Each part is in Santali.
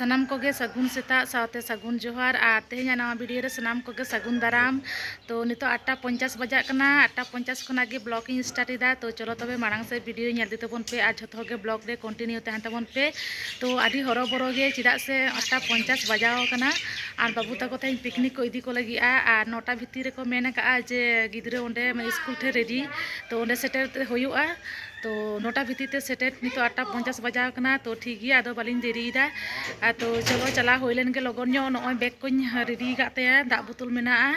ᱥᱟᱱᱟᱢ ᱠᱚᱜᱮ ᱥᱟᱹᱜᱩᱱ ᱥᱮᱛᱟᱜ ᱥᱟᱶᱛᱮ ᱥᱟᱹᱜᱩᱱ ᱡᱚᱦᱟᱨ ᱟᱨ ᱛᱮᱦᱮᱧᱟᱜ ᱱᱟᱣᱟ ᱵᱷᱤᱰᱤᱭᱳ ᱨᱮ ᱥᱟᱱᱟᱢ ᱠᱚᱜᱮ ᱥᱟᱹᱜᱩᱱ ᱫᱟᱨᱟᱢ ᱛᱚ ᱱᱤᱛᱚᱜ ᱟᱴᱴᱟ ᱯᱚᱧᱪᱟᱥ ᱵᱟᱡᱟᱜ ᱠᱟᱱᱟ ᱟᱴᱴᱟ ᱯᱚᱧᱪᱟᱥ ᱠᱷᱚᱱᱟᱜ ᱜᱮ ᱵᱞᱚᱜ ᱤᱧ ᱥᱴᱟᱨᱴ ᱮᱫᱟ ᱛᱚ ᱪᱚᱞᱚ ᱛᱚᱵᱮ ᱢᱟᱲᱟᱝ ᱥᱮᱫ ᱵᱷᱤᱰᱤᱭᱳ ᱧᱮᱞ ᱤᱫᱤ ᱛᱟᱵᱚᱱ ᱯᱮ ᱟᱨ ᱡᱷᱚᱛᱚ ᱜᱮ ᱵᱞᱚᱜ ᱨᱮ ᱠᱚᱱᱴᱤᱱᱤᱭᱩ ᱛᱟᱦᱮᱱ ᱛᱟᱵᱚᱱ ᱯᱮ ᱛᱚ ᱟᱹᱰᱤ ᱦᱚᱨᱚᱵᱚᱨᱚ ᱜᱮ ᱪᱮᱫᱟᱜ ᱥᱮ ᱟᱴᱴᱟ ᱯᱚᱧᱪᱟᱥ ᱵᱟᱡᱟᱣ ᱠᱟᱱᱟ ᱟᱨ ᱵᱟᱹᱵᱩ ᱛᱟᱠᱚ ᱛᱮᱦᱮᱧ ᱯᱤᱠᱱᱤᱠ ᱠᱚ ᱤᱫᱤ ᱠᱚ ᱞᱟᱹᱜᱤᱫᱼᱟ ᱟᱨ ᱱᱚᱴᱟ ᱵᱷᱤᱛᱤᱨ ᱨᱮᱠᱚ ᱢᱮᱱ ᱟᱠᱟᱫᱼᱟ ᱡᱮ ᱜᱤᱫᱽᱨᱟᱹ ᱚᱸᱰᱮ ᱥᱠᱩᱞ ᱴᱷᱮᱱ ᱨᱮᱰᱤ ᱛᱚ ᱚᱸᱰᱮ ᱥᱮᱴᱮᱨ ᱛᱮ ᱦᱩᱭᱩᱜᱼᱟ ᱛᱚ ᱱᱚᱴᱟ ᱵᱷᱤᱛᱤᱨ ᱛᱮ ᱥᱮᱴᱮᱨ ᱱᱤᱛᱚᱜ ᱟᱴᱴᱟ ᱯᱚᱧᱪᱟᱥ ᱵᱟᱡᱟᱣ ᱠᱟᱱᱟ ᱛᱚ ᱴᱷᱤᱠ ᱜᱮᱭᱟ ᱟᱫᱚ ᱵᱟᱹᱞᱤᱧ ᱫᱮᱨᱤᱭᱮᱫᱟ ᱟᱫᱚ ᱪᱚᱞᱚ ᱪᱟᱞᱟᱣ ᱦᱩᱭ ᱞᱮᱱ ᱜᱮ ᱞᱚᱜᱚᱱ ᱧᱚᱜ ᱱᱚᱜᱼᱚᱭ ᱵᱮᱜᱽ ᱠᱚᱧ ᱨᱮᱰᱤ ᱟᱠᱟᱫ ᱛᱟᱭᱟ ᱫᱟᱜ ᱵᱳᱛᱳᱞ ᱢᱮᱱᱟᱜᱼᱟ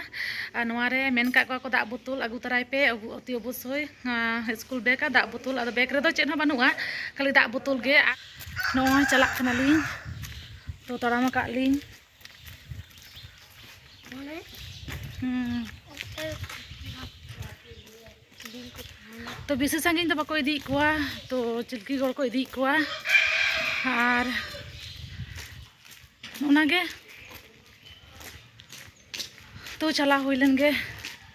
ᱟᱨ ᱱᱚᱣᱟ ᱨᱮ ᱢᱮᱱ ᱟᱠᱟᱫ ᱠᱚᱣᱟ ᱠᱚ ᱫᱟᱜ ᱵᱳᱛᱳᱞ ᱟᱹᱜᱩ ᱛᱟᱨᱟᱭ ᱯᱮ ᱚᱛᱤ ᱚᱵᱚᱥᱥᱳᱭ ᱤᱥᱠᱩᱞ ᱵᱮᱜᱽ ᱟᱨ ᱫᱟᱜ ᱵᱳᱛᱳᱞ ᱟᱫᱚ ᱵᱮᱜᱽ ᱨᱮᱫᱚ ᱪᱮᱫ ᱦᱚᱸ ᱵᱟᱹᱱᱩᱜᱼᱟ ᱠᱷᱟᱹᱞᱤ ᱫᱟᱜ ᱵᱳᱛᱳᱞ ᱜᱮ ᱱᱚᱜᱼᱚᱭ ᱪᱟᱞᱟᱜ ᱠᱟᱱᱟᱞᱤᱧ ᱛᱚ ᱛᱟᱲᱟᱢ ᱟᱠᱟᱫ ᱞᱤᱧ ᱛᱚ ᱵᱮᱥᱤ ᱥᱟᱺᱜᱤᱧ ᱫᱚ ᱵᱟᱠᱚ ᱤᱫᱤᱭᱮᱫ ᱠᱚᱣᱟ ᱛᱚ ᱪᱤᱞᱠᱤ ᱜᱚᱲ ᱠᱚ ᱤᱫᱤᱭᱮᱫ ᱠᱚᱣᱟ ᱟᱨ ᱚᱱᱟᱜᱮ ᱛᱚ ᱪᱟᱞᱟᱣ ᱦᱩᱭ ᱞᱮᱱ ᱜᱮ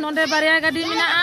ᱱᱚᱰᱮ ᱵᱟᱨᱭᱟ ᱜᱟᱹᱰᱤ ᱢᱮᱱᱟᱜᱼᱟ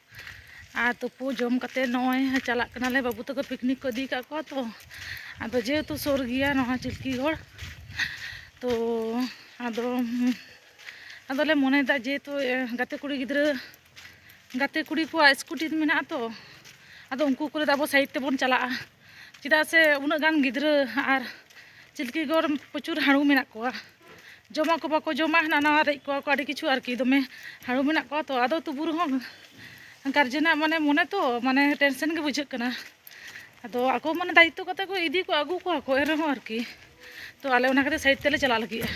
ᱟᱨ ᱛᱩᱯᱩ ᱡᱚᱢ ᱠᱟᱛᱮ ᱱᱚᱜᱼᱚᱭ ᱪᱟᱞᱟᱜ ᱠᱟᱱᱟᱞᱮ ᱵᱟᱹᱵᱩ ᱛᱟᱠᱚ ᱯᱤᱠᱱᱤᱠ ᱠᱚ ᱤᱫᱤ ᱠᱟᱜ ᱠᱚᱣᱟ ᱛᱚ ᱟᱫᱚ ᱡᱮᱦᱮᱛᱩ ᱥᱩᱨ ᱜᱮᱭᱟ ᱱᱚᱣᱟ ᱪᱤᱞᱠᱤ ᱜᱚᱲ ᱛᱚ ᱟᱫᱚ ᱟᱫᱚᱞᱮ ᱢᱚᱱᱮᱭᱮᱫᱟ ᱡᱮᱦᱮᱛᱩ ᱜᱟᱛᱮ ᱠᱩᱲᱤ ᱜᱤᱫᱽᱨᱟᱹ ᱜᱟᱛᱮ ᱠᱩᱲᱤ ᱠᱚᱣᱟᱜ ᱥᱠᱩᱴᱤ ᱢᱮᱱᱟᱜᱼᱟ ᱛᱚ ᱟᱫᱚ ᱩᱱᱠᱩ ᱠᱚ ᱞᱟᱹᱭᱫᱟ ᱟᱵᱚ ᱥᱟᱭᱤᱰ ᱛᱮᱵᱚᱱ ᱪᱟᱞᱟᱜᱼᱟ ᱪᱮᱫᱟᱜ ᱥᱮ ᱩᱱᱟᱹᱜ ᱜᱟᱱ ᱜᱤᱫᱽᱨᱟᱹ ᱟᱨ ᱪᱤᱞᱠᱤ ᱜᱚᱲ ᱯᱨᱚᱪᱩᱨ ᱦᱟᱹᱬᱩ ᱢᱮᱱᱟᱜ ᱠᱚᱣᱟ ᱡᱚᱢᱟᱠᱚ ᱵᱟᱠᱚ ᱡᱚᱢᱟ ᱦᱟᱱᱟ ᱱᱟᱣᱟ ᱨᱮᱡ ᱠᱚᱣᱟ ᱠᱚ ᱟᱹᱰᱤ ᱠᱤᱪᱷᱩ ᱟᱨᱠᱤ ᱫᱚᱢᱮ ᱦᱟᱹᱬᱩ ᱢᱮᱱᱟᱜ ᱠᱚᱣᱟ ᱛᱚ ᱟᱫᱚ ᱛᱚᱵᱩ ᱨᱮᱦᱚᱸ ᱜᱟᱨᱡᱮᱱᱟᱜ ᱢᱟᱱᱮ ᱢᱚᱱᱮ ᱛᱚ ᱢᱟᱱᱮ ᱴᱮᱱᱥᱮᱱ ᱜᱮ ᱵᱩᱡᱷᱟᱹᱜ ᱠᱟᱱᱟ ᱟᱫᱚ ᱟᱠᱚ ᱢᱟᱱᱮ ᱫᱟᱭᱤᱛᱛᱚ ᱠᱟᱛᱮ ᱠᱚ ᱤᱫᱤ ᱠᱚᱣᱟ ᱟᱹᱜᱩ ᱠᱚᱣᱟ ᱠᱚ ᱮᱱ ᱨᱮᱦᱚᱸ ᱟᱨᱠᱤ ᱛᱚ ᱟᱞᱮ ᱚᱱᱟ ᱠᱷᱟᱹᱛᱤᱨ ᱥᱟᱭᱤᱰ ᱛᱮᱞᱮ ᱪᱟᱞᱟᱜ ᱞᱟᱹᱜᱤᱫᱼᱟ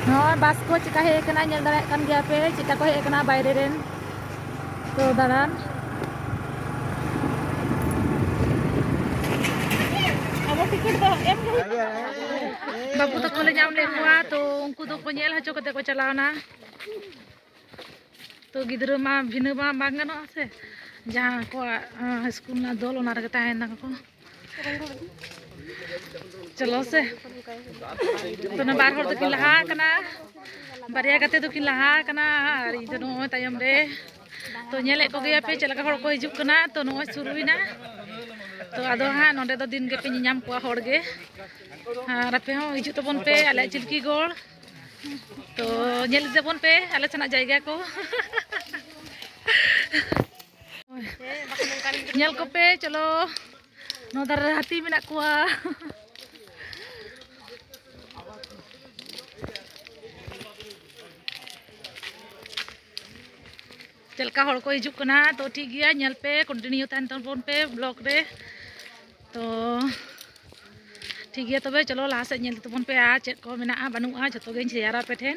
ᱱᱚᱜᱼᱚᱭ ᱵᱟᱥ ᱠᱚ ᱪᱮᱠᱟ ᱦᱮᱡ ᱟᱠᱟᱱᱟ ᱧᱮᱞ ᱫᱟᱲᱮᱭᱟᱜ ᱠᱟᱱ ᱜᱮᱭᱟ ᱯᱮ ᱪᱮᱠᱟ ᱠᱚ ᱦᱮᱡ ᱟᱠᱟᱱᱟ ᱵᱟᱭᱨᱮ ᱨᱮᱱ ᱛᱚ ᱫᱟᱬᱟᱱ ᱵᱟᱹᱵᱩ ᱛᱟᱠᱚ ᱞᱮ ᱧᱟᱢ ᱞᱮᱫ ᱠᱚᱣᱟ ᱛᱚ ᱩᱱᱠᱩ ᱫᱚᱠᱚ ᱧᱮᱞ ᱦᱚᱪᱚ ᱠᱟᱛᱮ ᱠᱚ ᱪᱟᱞᱟᱣᱱᱟ ᱛᱚ ᱜᱤᱫᱽᱨᱟᱹ ᱢᱟ ᱵᱷᱤᱱᱟᱹ ᱢᱟ ᱵᱟᱝ ᱜᱟᱱᱚᱜᱼᱟ ᱥᱮ ᱡᱟᱦᱟᱸ ᱟᱠᱚᱣᱟᱜ ᱥᱠᱩᱞ ᱨᱮᱱᱟᱜ ᱫᱚᱞ ᱚᱱᱟ ᱨᱮᱜᱮ ᱛᱟᱦᱮᱱ ᱛᱟᱠᱚ ᱪᱚᱞᱚ ᱥᱮ ᱛᱚ ᱵᱟᱨ ᱦᱚᱲ ᱫᱚᱠᱤᱱ ᱞᱟᱦᱟ ᱟᱠᱟᱱᱟ ᱵᱟᱨᱭᱟ ᱜᱟᱛᱮ ᱫᱚᱠᱤᱱ ᱞᱟᱦᱟ ᱟᱠᱟᱱᱟ ᱟᱨ ᱤᱧ ᱫᱚ ᱱᱚᱜᱼᱚᱭ ᱛᱟᱭᱚᱢ ᱨᱮ ᱛᱚ ᱧᱮᱞᱮᱫ ᱠᱚᱜᱮᱭᱟ ᱯᱮ ᱪᱮᱫ ᱞᱮᱠᱟ ᱦᱚᱲ ᱠᱚ ᱦᱤᱡᱩᱜ ᱠᱟᱱᱟ ᱛᱚ ᱱᱚᱜᱼᱚᱭ ᱥᱩᱨᱩᱭᱮᱱᱟ ᱛᱚ ᱟᱫᱚ ᱦᱟᱸᱜ ᱱᱚᱸᱰᱮ ᱫᱚ ᱫᱤᱱ ᱜᱮᱯᱮ ᱧᱮᱧᱟᱢ ᱠᱚᱣᱟ ᱦᱚᱲ ᱜᱮ ᱟᱨ ᱟᱯᱮ ᱦᱚᱸ ᱦᱤᱡᱩᱜ ᱛᱟᱵᱚᱱ ᱯᱮ ᱟᱞᱮᱭᱟᱜ ᱪᱤᱞᱠᱤ ᱜᱚᱲ ᱛᱚ ᱧᱮᱞ ᱤᱫᱤ ᱛᱟᱵᱚᱱ ᱯᱮ ᱟᱞᱮ ᱥᱮᱱᱟᱜ ᱡᱟᱭᱜᱟ ᱠᱚ ᱧᱮᱞ ᱠᱚᱯᱮ ᱪᱚᱞᱚ ᱱᱚᱣᱟ ᱫᱟᱨᱮ ᱨᱮ ᱦᱟᱹᱛᱤ ᱢᱮᱱᱟᱜ ᱠᱚᱣᱟ ᱪᱮᱫ ᱞᱮᱠᱟ ᱦᱚᱲ ᱠᱚ ᱦᱤᱡᱩᱜ ᱠᱟᱱᱟ ᱛᱚ ᱴᱷᱤᱠ ᱜᱮᱭᱟ ᱧᱮᱞ ᱯᱮ ᱠᱚᱱᱴᱤᱱᱤᱭᱩ ᱛᱟᱦᱮᱱ ᱛᱟᱵᱚᱱ ᱯᱮ ᱵᱞᱚᱜ ᱨᱮ ᱛᱚ ᱴᱷᱤᱠ ᱜᱮᱭᱟ ᱛᱚᱵᱮ ᱪᱚᱞᱚ ᱞᱟᱦᱟ ᱥᱮᱫ ᱧᱮᱞ ᱛᱟᱵᱚᱱ ᱯᱮ ᱟᱨ ᱪᱮᱫ ᱠᱚ ᱢᱮᱱᱟᱜᱼᱟ ᱵᱟᱹᱱᱩᱜᱼᱟ ᱡᱚᱛᱚ ᱜᱮᱧ ᱥᱮᱭᱟᱨᱟ ᱟᱯᱮ ᱴᱷᱮᱱ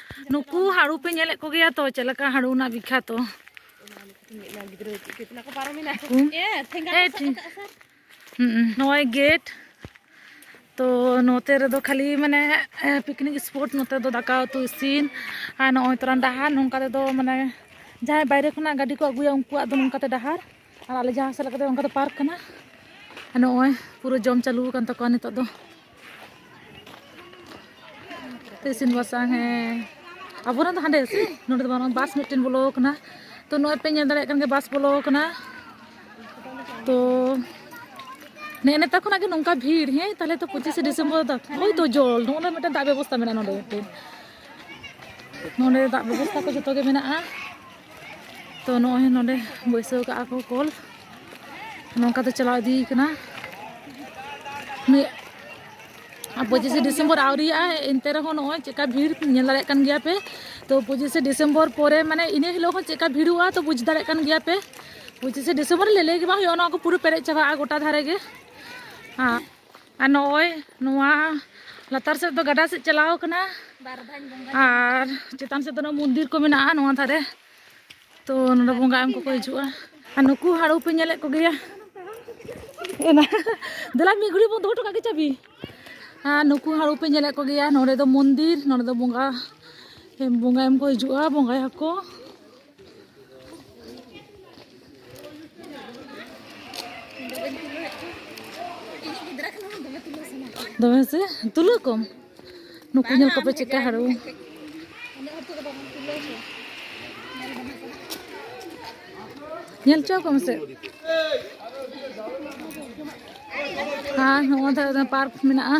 ᱱᱩᱠᱩ ᱦᱟᱹᱲᱩ ᱯᱮ ᱧᱮᱞᱮᱫ ᱠᱚᱜᱮᱭᱟ ᱛᱚ ᱪᱮᱫ ᱞᱮᱠᱟ ᱦᱟᱹᱲᱩ ᱨᱮᱱᱟᱜ ᱵᱤᱠᱷᱟᱛᱚ ᱱᱚᱜᱼᱚᱭ ᱜᱮᱴ ᱛᱚ ᱱᱚᱛᱮ ᱨᱮᱫᱚ ᱠᱷᱟᱹᱞᱤ ᱢᱟᱱᱮ ᱯᱤᱠᱱᱤᱠ ᱥᱯᱚᱴ ᱱᱚᱛᱮ ᱫᱚ ᱫᱟᱠᱟ ᱩᱛᱩ ᱤᱥᱤᱱ ᱟᱨ ᱱᱚᱜᱼᱚᱭ ᱛᱚᱨᱟᱱ ᱰᱟᱦᱟᱨ ᱱᱚᱝᱠᱟ ᱛᱮᱫᱚ ᱢᱟᱱᱮ ᱡᱟᱦᱟᱸᱭ ᱵᱟᱭᱨᱮ ᱠᱷᱚᱱᱟᱜ ᱜᱟᱹᱰᱤ ᱠᱚ ᱟᱹᱜᱩᱭᱟ ᱩᱱᱠᱩᱣᱟᱜ ᱫᱚ ᱱᱚᱝᱠᱟᱛᱮ ᱰᱟᱦᱟᱨ ᱟᱨ ᱟᱞᱮ ᱡᱟᱦᱟᱸ ᱥᱮᱫ ᱞᱮᱠᱟᱛᱮ ᱚᱱᱠᱟ ᱫᱚ ᱯᱟᱨᱠ ᱠᱟᱱᱟ ᱟᱨ ᱱᱚᱜᱼᱚᱭ ᱯᱩᱨᱟᱹ ᱡᱚᱢ ᱪᱟᱹᱞᱩ ᱟᱠᱟᱱ ᱛᱟᱠᱚᱣᱟ ᱱᱤᱛᱚᱜ ᱫᱚ ᱤᱥᱤᱱ ᱵᱟᱥᱟᱝ ᱦᱮᱸ ᱟᱵᱚᱨᱮᱱ ᱫᱚ ᱦᱟᱸᱰᱮ ᱥᱮ ᱱᱚᱰᱮ ᱫᱚ ᱵᱟᱝ ᱵᱟᱥ ᱢᱤᱫᱴᱮᱱ ᱵᱚᱞᱚ ᱟᱠᱟᱱᱟ ᱛᱚ ᱱᱚᱜᱼᱚᱭ ᱯᱮ ᱧᱮᱞ ᱫᱟᱲᱮᱭᱟᱜ ᱠᱟᱱ ᱜᱮᱭᱟ ᱵᱟᱥ ᱵᱚᱞᱚ ᱟᱠᱟᱱᱟ ᱛᱚ ᱱᱮᱜᱼᱮ ᱱᱮᱛᱟᱨ ᱠᱷᱚᱱᱟᱜ ᱜᱮ ᱱᱚᱝᱠᱟ ᱵᱷᱤᱲ ᱦᱮᱸ ᱛᱟᱦᱞᱮ ᱛᱚ ᱯᱚᱸᱪᱤᱥᱮ ᱰᱤᱥᱮᱢᱵᱚᱨ ᱫᱚ ᱦᱳᱭ ᱛᱚ ᱡᱚᱞ ᱱᱚᱜᱼᱚ ᱢᱤᱫᱴᱮᱱ ᱫᱟᱜ ᱵᱮᱵᱚᱥᱛᱟ ᱢᱮᱱᱟᱜᱼᱟ ᱱᱚᱰᱮ ᱢᱤᱫᱴᱮᱱ ᱱᱚᱰᱮ ᱫᱟᱜ ᱵᱮᱵᱚᱥᱛᱟ ᱠᱚ ᱡᱚᱛᱚ ᱜᱮ ᱢᱮᱱᱟᱜᱼᱟ ᱛᱚ ᱱᱚᱜᱼᱚᱭ ᱱᱚᱰᱮ ᱵᱟᱹᱭᱥᱟᱹᱣ ᱠᱟᱜᱼᱟ ᱠᱚ ᱠᱚᱞ ᱱᱚᱝᱠᱟ ᱛᱮ ᱪᱟᱞᱟᱣ ᱤᱫᱤᱭ ᱠᱟᱱᱟ ᱯᱚᱸᱪᱤᱥᱮ ᱰᱤᱥᱮᱢᱵᱚᱨ ᱟᱹᱣᱨᱤᱭᱟᱜᱼᱟ ᱮᱱᱛᱮ ᱨᱮᱦᱚᱸ ᱱᱚᱜᱼᱚᱭ ᱪᱮᱠᱟ ᱵᱷᱤᱲ ᱧᱮᱞ ᱫᱟᱲᱮᱭᱟᱜ ᱠᱟᱱ ᱜᱮᱭᱟ ᱯᱮ ᱛᱚ ᱯᱚᱸᱪᱤᱥᱮ ᱰᱤᱥᱮᱢᱵᱚᱨ ᱯᱚᱨᱮ ᱢᱟᱱᱮ ᱤᱱᱟᱹ ᱦᱤᱞᱳᱜ ᱦᱚᱸ ᱪᱮᱠᱟ ᱵᱷᱤᱲᱚᱜᱼᱟ ᱛᱚ ᱵᱩᱡᱽ ᱫᱟᱲᱮᱭᱟᱜ ᱠᱟᱱ ᱜᱮᱭᱟ ᱯᱮ ᱯᱚᱸᱪᱤᱥᱮ ᱰᱤᱥᱮᱢᱵᱚᱨ ᱞᱮ ᱞᱟᱹᱭ ᱜᱮ ᱵᱟᱝ ᱦᱩᱭᱩᱜᱼᱟ ᱱᱚᱣᱟ ᱠᱚ ᱯᱩᱨᱟᱹ ᱯᱮᱨᱮᱡ ᱪᱟᱵᱟᱜᱼᱟ ᱜᱚᱴᱟ ᱫᱷᱟᱨᱮ ᱜᱮ ᱦᱮᱸ ᱟᱨ ᱱᱚᱜᱼᱚᱭ ᱱᱚᱣᱟ ᱞᱟᱛᱟᱨ ᱥᱮᱫ ᱫᱚ ᱜᱟᱰᱟ ᱥᱮᱫ ᱪᱟᱞᱟᱣ ᱠᱟᱱᱟ ᱟᱨ ᱪᱮᱛᱟᱱ ᱥᱮᱫ ᱫᱚ ᱢᱚᱱᱫᱤᱨ ᱠᱚ ᱢᱮᱱᱟᱜᱼᱟ ᱱᱚᱣᱟ ᱫᱷᱟᱨᱮ ᱛᱚ ᱱᱚᱰᱮ ᱵᱚᱸᱜᱟ ᱮᱢ ᱠᱚᱠᱚ ᱦᱤᱡᱩᱜᱼᱟ ᱟᱨ ᱱᱩᱠᱩ ᱦᱟᱹᱲᱩ ᱯᱮ ᱧᱮᱞᱮᱫ ᱠᱚᱜᱮᱭᱟ ᱮᱱᱟ ᱫᱮᱞᱟ ᱢᱤᱫ ᱜᱷᱟᱹᱲᱤᱡ ᱵᱚᱱ ᱫᱚᱦᱚ ᱦᱚᱴᱚ ᱠᱟᱜ ᱜᱮ ᱪᱟᱵᱤ ᱟᱨ ᱱᱩᱠᱩ ᱦᱟᱹᱲᱩ ᱯᱮ ᱧᱮᱞᱮᱫ ᱠᱚᱜᱮᱭᱟ ᱱᱚᱰᱮ ᱫᱚ ᱢᱚᱱᱫᱤᱨ ᱱᱚᱰᱮ ᱫᱚ ᱵᱚᱸᱜᱟ ᱵᱚᱸᱜᱟ ᱮᱢ ᱠᱚ ᱦᱤᱡᱩᱜᱼᱟ ᱵᱚᱸᱜᱟᱭᱟᱠᱚ ᱫᱚᱢᱮ ᱥᱮ ᱛᱩᱞᱟᱹ ᱠᱚᱢ ᱱᱩᱠᱩ ᱧᱮᱞ ᱠᱚᱯᱮ ᱪᱮᱫᱠᱟ ᱦᱟᱹᱲᱩ ᱧᱮᱞ ᱪᱚ ᱠᱚᱢ ᱥᱮ ᱟᱨ ᱱᱚᱣᱟ ᱫᱷᱟᱨᱮ ᱫᱚ ᱯᱟᱨᱠ ᱢᱮᱱᱟᱜᱼᱟ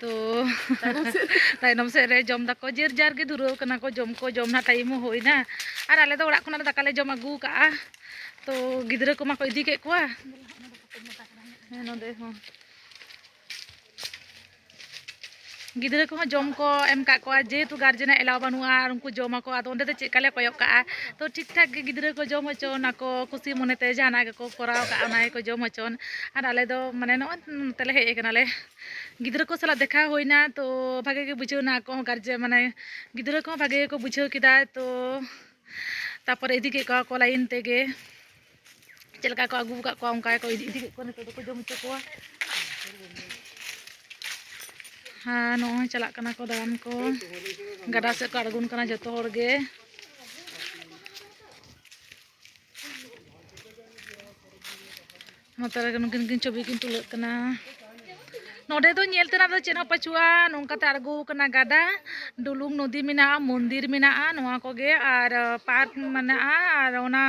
ᱛᱚ ᱛᱟᱭᱱᱚᱢ ᱥᱮᱫ ᱨᱮ ᱡᱚᱢ ᱫᱟᱠᱚ ᱡᱮᱨ ᱡᱟᱨ ᱜᱮ ᱫᱷᱩᱨᱟᱹᱣ ᱠᱟᱱᱟ ᱠᱚ ᱡᱚᱢ ᱠᱚ ᱡᱚᱢ ᱨᱮᱱᱟᱜ ᱴᱟᱭᱤᱢ ᱦᱚᱸ ᱦᱩᱭᱱᱟ ᱟᱨ ᱟᱞᱮ ᱫᱚ ᱚᱲᱟᱜ ᱠᱷᱚᱱᱟᱜ ᱫᱟᱠᱟ ᱞᱮ ᱡᱚᱢ ᱟᱹᱜᱩ ᱠᱟᱜᱼᱟ ᱛᱚ ᱜᱤᱫᱽᱨᱟᱹ ᱠᱚᱢᱟ ᱠᱚ ᱤᱫᱤ ᱠᱮᱫ ᱠᱚᱣᱟ ᱱᱚᱸᱰᱮ ᱦᱚᱸ ᱜᱤᱫᱽᱨᱟᱹ ᱠᱚᱦᱚᱸ ᱡᱚᱢ ᱠᱚ ᱮᱢ ᱠᱟᱜ ᱠᱚᱣᱟ ᱡᱮᱦᱮᱛᱩ ᱜᱟᱨᱡᱮᱱᱟᱜ ᱮᱞᱟᱣ ᱵᱟᱹᱱᱩᱜᱼᱟ ᱟᱨ ᱩᱱᱠᱩ ᱡᱚᱢ ᱟᱠᱚ ᱟᱫᱚ ᱚᱸᱰᱮ ᱫᱚ ᱪᱮᱫ ᱞᱮᱠᱟ ᱞᱮ ᱠᱚᱭᱚᱜ ᱠᱟᱜᱼᱟ ᱛᱚ ᱴᱷᱤᱠ ᱴᱷᱟᱠ ᱜᱮ ᱜᱤᱫᱽᱨᱟᱹ ᱠᱚ ᱡᱚᱢ ᱦᱚᱪᱚ ᱱᱟᱠᱚ ᱠᱩᱥᱤ ᱢᱚᱱᱮ ᱛᱮ ᱡᱟᱦᱟᱱᱟᱜ ᱜᱮᱠᱚ ᱠᱚᱨᱟᱣ ᱠᱟᱜᱼᱟ ᱚᱱᱟ ᱜᱮᱠᱚ ᱡᱚᱢ ᱦᱚᱪᱚᱱ ᱟᱨ ᱟᱞᱮ ᱫᱚ ᱢᱟᱱᱮ ᱱᱚᱜᱼᱚᱭ ᱱᱚᱛᱮ ᱞᱮ ᱦᱮᱡ ᱠᱟᱱᱟᱞᱮ ᱜᱤᱫᱽᱨᱟᱹ ᱠᱚ ᱥᱟᱞᱟᱜ ᱫᱮᱠᱷᱟᱣ ᱦᱩᱭᱱᱟ ᱛᱚ ᱵᱷᱟᱜᱮ ᱜᱮ ᱵᱩᱡᱷᱟᱹᱣ ᱱᱟ ᱟᱠᱚ ᱦᱚᱸ ᱜᱟᱨᱡᱮᱱ ᱢᱟᱱᱮ ᱜᱤᱫᱽᱨᱟᱹ ᱠᱚᱦᱚᱸ ᱵᱷᱟᱜᱮ ᱜᱮᱠᱚ ᱵᱩᱡᱷᱟᱹᱣ ᱠᱮᱫᱟ ᱛᱚ ᱛᱟᱨᱯᱚᱨᱮ ᱤᱫᱤ ᱠᱮᱜ ᱠᱚᱣᱟ ᱠᱚ ᱞᱟᱭᱤᱱ ᱛᱮᱜᱮ ᱪᱮᱫ ᱞᱮᱠᱟ ᱠᱚ ᱟᱹᱜᱩ ᱟᱠᱟᱫ ᱠᱚᱣᱟ ᱚᱱᱠᱟ ᱜᱮᱠᱚ ᱤᱫᱤ ᱤᱫᱤ ᱠᱮᱫ ᱠᱚᱣᱟ ᱱᱤᱛᱚᱜ ᱫᱚᱠᱚ ᱡᱚᱢ ᱦᱚᱪᱚ ᱠᱚᱣᱟ ᱦᱮᱸ ᱱᱚᱜᱼᱚᱭ ᱪᱟᱞᱟᱜ ᱠᱟᱱᱟ ᱠᱚ ᱫᱟᱬᱟᱱ ᱠᱚ ᱜᱟᱰᱟ ᱥᱮᱫ ᱠᱚ ᱟᱬᱜᱚᱱ ᱠᱟᱱᱟ ᱡᱚᱛᱚ ᱦᱚᱲ ᱜᱮ ᱱᱚᱛᱮ ᱨᱮᱜᱮ ᱱᱩᱠᱤᱱ ᱠᱤᱱ ᱪᱷᱚᱵᱤ ᱠᱤᱱ ᱛᱩᱞᱟᱹᱜ ᱠᱟᱱᱟ ᱱᱚᱰᱮ ᱫᱚ ᱧᱮᱞ ᱛᱮᱱᱟᱜ ᱫᱚ ᱪᱮᱫ ᱦᱚᱸ ᱯᱟᱹᱪᱩᱜᱼᱟ ᱱᱚᱝᱠᱟᱛᱮ ᱟᱬᱜᱚ ᱟᱠᱟᱱᱟ ᱜᱟᱰᱟ ᱰᱩᱞᱩᱝ ᱱᱚᱫᱤ ᱢᱮᱱᱟᱜᱼᱟ ᱢᱚᱱᱫᱤᱨ ᱢᱮᱱᱟᱜᱼᱟ ᱱᱚᱣᱟ ᱠᱚᱜᱮ ᱟᱨ ᱯᱟᱨᱠ ᱢᱮᱱᱟᱜᱼᱟ ᱟᱨ ᱚᱱᱟ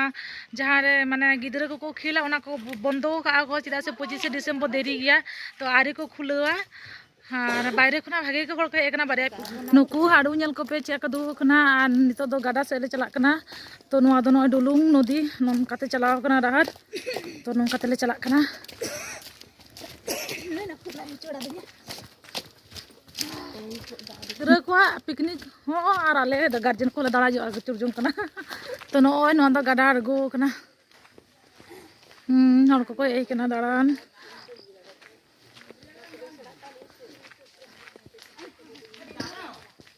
ᱡᱟᱦᱟᱸ ᱨᱮ ᱢᱟᱱᱮ ᱜᱤᱫᱽᱨᱟᱹ ᱠᱚᱠᱚ ᱠᱷᱮᱞᱟ ᱚᱱᱟ ᱠᱚ ᱵᱚᱱᱫᱚ ᱟᱠᱟᱫᱼᱟ ᱠᱚ ᱪᱮᱫᱟᱜ ᱥᱮ ᱯᱚᱸᱪᱤᱥᱮ ᱰᱤᱥᱮᱢᱵᱚᱨ ᱫᱮᱨᱤ ᱜᱮᱭᱟ ᱛᱳ ᱟᱹᱣᱨᱤ ᱠᱚ ᱠᱷᱩᱞᱟᱹᱣᱟ ᱟᱨ ᱵᱟᱭᱨᱮ ᱠᱷᱚᱱᱟᱜ ᱵᱷᱟᱜᱮ ᱜᱮ ᱦᱚᱲ ᱠᱚ ᱦᱮᱡ ᱟᱠᱟᱱᱟ ᱵᱟᱨᱭᱟ ᱱᱩᱠᱩ ᱦᱟᱹᱲᱩ ᱧᱮᱞ ᱠᱚᱯᱮ ᱪᱮᱫ ᱞᱮᱠᱟ ᱫᱩᱲᱩᱵ ᱟᱠᱟᱱᱟ ᱟᱨ ᱱᱤᱛᱚᱜ ᱫᱚ ᱜᱟᱰᱟ ᱥᱮᱫ ᱞᱮ ᱪᱟᱞᱟᱜ ᱠᱟᱱᱟ ᱛᱳ ᱱᱚᱣᱟ ᱫᱚ ᱱᱚᱜᱼᱚᱭ ᱰᱩᱞᱩᱝ ᱱᱚᱫᱤ ᱱᱚᱝᱠᱟᱛᱮ ᱪᱟᱞᱟᱣ ᱟᱠᱟᱱᱟ ᱰᱟᱦᱟᱨ ᱛᱳ ᱱᱚᱝᱠᱟ ᱛᱮᱞᱮ ᱪᱟᱞᱟᱜ ᱠᱟᱱᱟ ᱜᱤᱫᱽᱨᱟᱹ ᱠᱚᱣᱟᱜ ᱯᱤᱠᱱᱤᱠ ᱦᱚᱸ ᱟᱨ ᱟᱞᱮ ᱜᱟᱨᱡᱮᱱ ᱠᱚᱞᱮ ᱫᱟᱬᱟ ᱡᱚᱜᱼᱟ ᱟᱹᱪᱩᱨ ᱡᱚᱝ ᱠᱟᱱᱟ ᱛᱚ ᱱᱚᱜᱼᱚᱭ ᱱᱚᱣᱟ ᱫᱚ ᱜᱟᱰᱟ ᱟᱬᱜᱚ ᱠᱟᱱᱟ ᱦᱚᱲ ᱠᱚᱠᱚ ᱦᱮᱡ ᱠᱟᱱᱟ ᱫᱟᱬᱟᱱ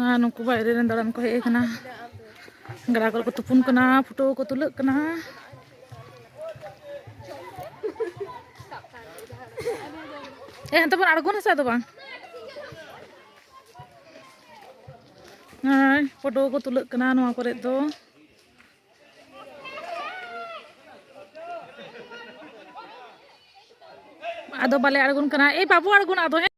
ᱟᱨ ᱱᱩᱠᱩ ᱵᱟᱭᱨᱮ ᱨᱮᱱ ᱫᱟᱬᱟᱱ ᱠᱚ ᱦᱮᱡ ᱟᱠᱟᱱᱟ ᱜᱟᱰᱟ ᱠᱚᱨᱮ ᱠᱚ ᱛᱩᱯᱩᱱ ᱠᱟᱱᱟ ᱯᱷᱳᱴᱳ ᱠᱚ ᱛᱩᱞᱟᱹᱜ ᱠᱟᱱᱟ ᱮ ᱦᱟᱱᱛᱮ ᱵᱚᱱ ᱟᱬᱜᱚᱱᱟ ᱥᱮ ᱟᱫᱚ ᱵᱟᱝ ᱦᱳᱭ ᱯᱷᱳᱴᱳ ᱠᱚ ᱛᱩᱞᱟᱹᱜ ᱠᱟᱱᱟ ᱱᱚᱣᱟ ᱠᱚᱨᱮ ᱫᱚ ᱟᱫᱚ ᱵᱟᱞᱮ ᱟᱬᱜᱚᱱ ᱠᱟᱱᱟ ᱮ ᱵᱟᱵᱚ ᱟᱬᱜᱚᱱᱟ ᱟᱫᱚ ᱦᱮᱸ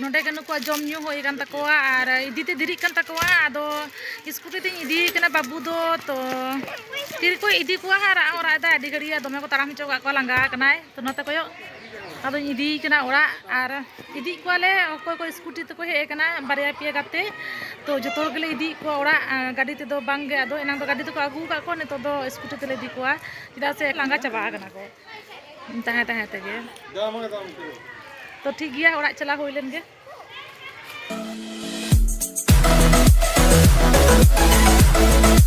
ᱱᱚᱰᱮ ᱜᱮ ᱱᱩᱠᱩᱣᱟᱜ ᱡᱚᱢ ᱧᱩ ᱦᱩᱭ ᱟᱠᱟᱱ ᱛᱟᱠᱚᱣᱟ ᱟᱨ ᱤᱫᱤ ᱛᱮ ᱫᱮᱨᱤᱜ ᱠᱟᱱ ᱛᱟᱠᱚᱣᱟ ᱟᱫᱚ ᱥᱠᱩᱴᱤ ᱛᱤᱧ ᱤᱫᱤᱭᱮ ᱠᱟᱱᱟ ᱵᱟᱹᱵᱩ ᱫᱚ ᱛᱚ ᱛᱤᱨᱮ ᱠᱚ ᱤᱫᱤ ᱠᱚᱣᱟ ᱦᱟᱸᱜ ᱨᱟᱜ ᱦᱚᱸ ᱨᱟᱜ ᱮᱫᱟᱭ ᱟᱹᱰᱤ ᱜᱷᱟᱹᱲᱤᱡ ᱫᱚᱢᱮ ᱠᱚ ᱛᱟᱲᱟᱢ ᱦᱚᱪᱚ ᱠᱟᱜ ᱠᱚᱣᱟ ᱞᱟᱸᱜᱟ ᱟᱠᱟᱱᱟᱭ ᱛᱚ ᱱᱚᱛᱮ ᱠᱚᱭᱚᱜ ᱟᱫᱚᱧ ᱤᱫᱤᱭᱮ ᱠᱟᱱᱟ ᱚᱲᱟᱜ ᱟᱨ ᱤᱫᱤᱭᱮᱫ ᱠᱚᱣᱟᱞᱮ ᱚᱠᱚᱭ ᱠᱚ ᱥᱠᱩᱴᱤ ᱛᱮᱠᱚ ᱦᱮᱡ ᱟᱠᱟᱱᱟ ᱵᱟᱨᱭᱟ ᱯᱮᱭᱟ ᱜᱟᱛᱮ ᱛᱚ ᱡᱚᱛᱚ ᱦᱚᱲ ᱜᱮᱞᱮ ᱤᱫᱤᱭᱮᱫ ᱠᱚᱣᱟ ᱚᱲᱟᱜ ᱜᱟᱹᱰᱤ ᱛᱮᱫᱚ ᱵᱟᱝᱜᱮ ᱟᱫᱚ ᱮᱱᱟᱝ ᱫᱚ ᱜᱟᱹᱰᱤ ᱛᱮᱠᱚ ᱟᱹᱜᱩ ᱟᱠᱟᱫ ᱠᱚᱣᱟ ᱱᱤᱛᱚᱜ ᱫᱚ ᱥᱠᱩᱴᱤ ᱛᱮᱞᱮ ᱤᱫᱤ ᱠᱚᱣᱟ ᱪᱮᱫᱟᱜ ᱥᱮ ᱞᱟᱸᱜᱟ ᱪᱟᱵᱟ ᱟᱠᱟᱱᱟ ᱠᱚ ᱛᱟᱦᱮᱸ ᱛᱟᱦᱮᱸ ᱛᱮᱜᱮ ᱛᱚ ᱴᱷᱤᱠ ᱜᱮᱭᱟ ᱚᱲᱟᱜ ᱪᱟᱞᱟᱣ ᱦᱩᱭ ᱞᱮᱱ ᱜᱮ